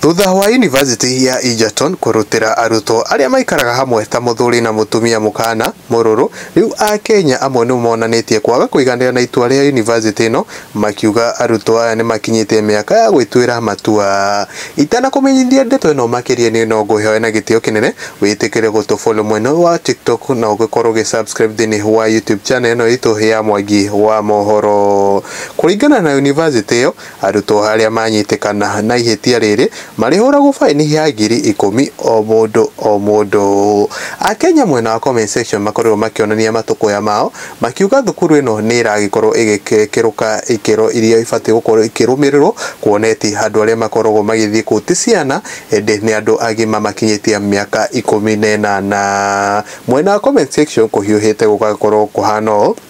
Thutha wa Yunivasĩtĩ ya Egerton kũrutĩra arutwo arĩa maikaraga hamwe ta mũthuri na mũtumia mũkaana mũrũrũ, rĩu Akenya amwe nĩ monanĩtie kwaga kũiganĩra na itua rĩa yunivasĩtĩ ĩno, makiuga arutwo aya nĩ makinyĩte mĩaka ya gwĩtuĩra matua. Itanakũmenyithia ndeto ĩno makĩria niĩ no ngũĩhoe na gĩtĩo kĩnene wĩtĩkĩre gũtũ follow mwena ũyũ wa TikTok na ũgĩkorwo ũgĩ subscribe thĩinĩ wa YouTube channel ĩno itũ ya Mwangi wa Mohoro. Kũringana na yunivasĩtĩ ĩyo, Arutwo arĩa manyitĩkana na ihĩtia rĩrĩ marĩhũragwo faĩni ya ngiri ikũmi o mũndũ o mũndũ. Akenya mwena wa comment section makorirwo makĩonania matũkũya mao makiuga thukuru ĩno nĩ ĩragĩkorwo ĩgĩkĩrũka ikĩro iria ibatiĩ gũkorwo ikĩrũmĩrĩrwo kuona eti andũ arĩa makoragwo magĩthiĩ kũu ti ciana ĩndĩ nĩ andũ agima makinyĩtie mĩaka ikũmi na ĩnana. Mwena wa comment section kũhiũhĩte gũgagĩkorwo kũhana ũũ.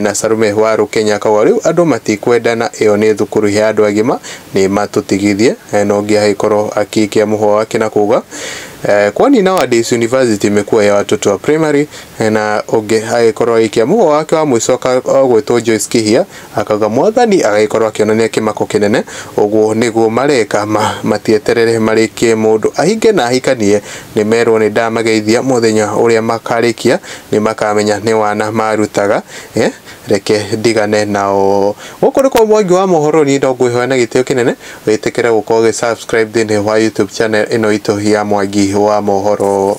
Na Salome wa Rũkenya akauga, Rĩu andũ matikwenda na ĩyo nĩ thukuru ya andũ agima, nĩ matũtigithie. Na ũngĩ agĩkorwo agĩikia mũhũa wake na kuuga, Kwani nowadays university imekuwa ya watoto wa primary. Na ũngĩ agĩkorwo agĩikia mũhũa wake wa mũico agwĩtwo Joyce Kĩhia akauga, Mwathani agagĩkorwo akĩonania kĩmako kĩnene, ũguo nĩguo mareka, matieterere marĩkie mũndũ ahinge na ahikanie, nĩ merwo nĩ ndamageithia mũthenya ũrĩa makarĩkia nĩmakamenya nĩ wana marutaga eh, reke ndigane nao gũkũ nĩ kwa mwangi wa mohoro niĩ no ngwĩhoya na gĩtĩo kĩnene wĩtĩkĩre gũkorwo ũgĩ subscribe thĩinĩ wa youtube channel ĩno itũ ya mwangi wa mohoro